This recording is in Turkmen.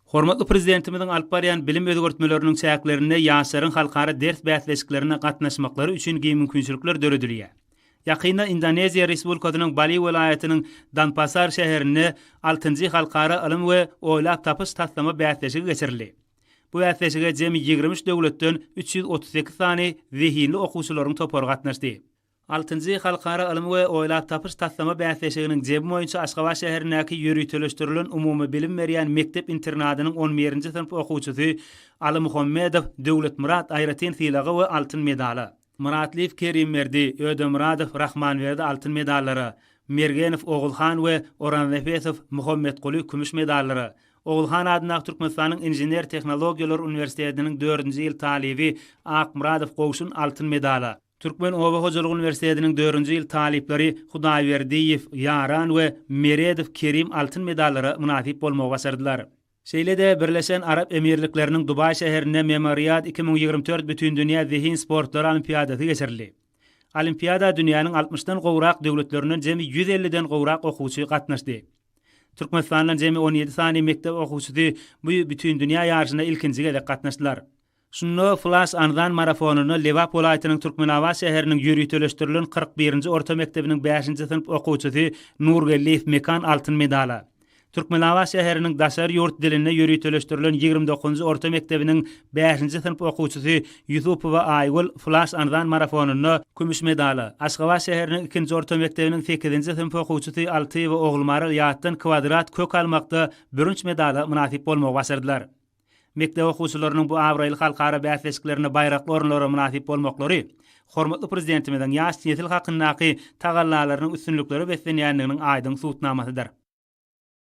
Hormatly Prezidentimiziň alyp barýan bilim özgertmeleriniň çäklerinde ýaşlaryň halkara ders bäsleşiklerine gatnaşmaklary üçin giň mümkinçilikler döredilýär. Ýakynda Indoneziýa Respublikasynyň Bali welaýatynyň Danpasar şäherinde altynjy Halkara ylym we oýlap tapyş taslama bäsleşigi geçirildi. Bu bäsleşige jemi ýigrimi üç döwletden üç ýüz otuz sekiz sany zehinli okuwçylaryň topary gatnaşdy. Altynjy halkara ylmy we oýlap tapyş taslama bäsleşiginiň jemi boýunça Aşgabat şäherindäki ýöriteleşdirilen umumybilim berýän mekdep-internadynyň on birinji synp okuwçysy Aly Muhammedow Döwletmyrat aýratyn sylaga we altyn medala, Myratlyýew Kerimberdi, Ödemyradow Rahmanberdi altyn medallara, Mergenow Oguzhan we Orannepesow Muhammetguly kümüş medallara, Oguzhan adyndaky Türkmenistanyň Inžener-tehnologiýalar uniwersitetiniň dördünji ýyl talyby Akmyradow Gowşun altyn medala, Türkmen oba hojalygy uniwersitetiniň dördünji ýyl talyplary Hudaýberdiýew Ýaran we Meredow Kerim altyn medallara mynasyp bolmagy başardylar. Şeýle-de Birleşen Arap Emirlikleriniň Dubaý şäherinde Memoriad iki müň ýigrimi dört Bütindünýä zehin sportlary olimpiadasy geçirildi. Olimpiada dünýäniň altmyşdan gowrak döwletlerinden jemi ýüz elliden gowrak okuwçy gatnaşdy. Türkmenistandan jemi on ýedi sany mekdep okuwçysy bu Bütindünýä ýaryşyna ilkinji gezek gatnaşdylar. Şunda Flaş arzan marafonyna Lebap welaýatynyň Türkmenabat şäheriniň ýöriteleşdirilen kyrk birinji orta mekdebiniň bäşinji synp okuwçysy Nurgeldiýew Mekan altyn medala, Türkmenabat şäheriniň daşary ýurt dilinde ýöriteleşdirilen ýigrimi dokuzynjy orta mekdebiniň bäşinji synp okuwçysy Ýusupowa Aýgül Flaş arzan marafonyna kümüş medala, Aşgabat şäheriniň ikinji orta mekdebiniň sekizinji synp okuwçysy Altyýewa Ogulmaral Ýatdan kwadrat kök almakda bürünç medala mynasyp bolmagy başardylar. Mekdep okuwçylarynyň bu abraýly halkara bäsleşiklerinde baýrakly orunlara mynasyp bolmaklary hormatly Prezidentimiziň ýaş nesil hakyndaky tagallalarynyň üstünliklere beslenýändiginiň aýdyň subutnamasydyr.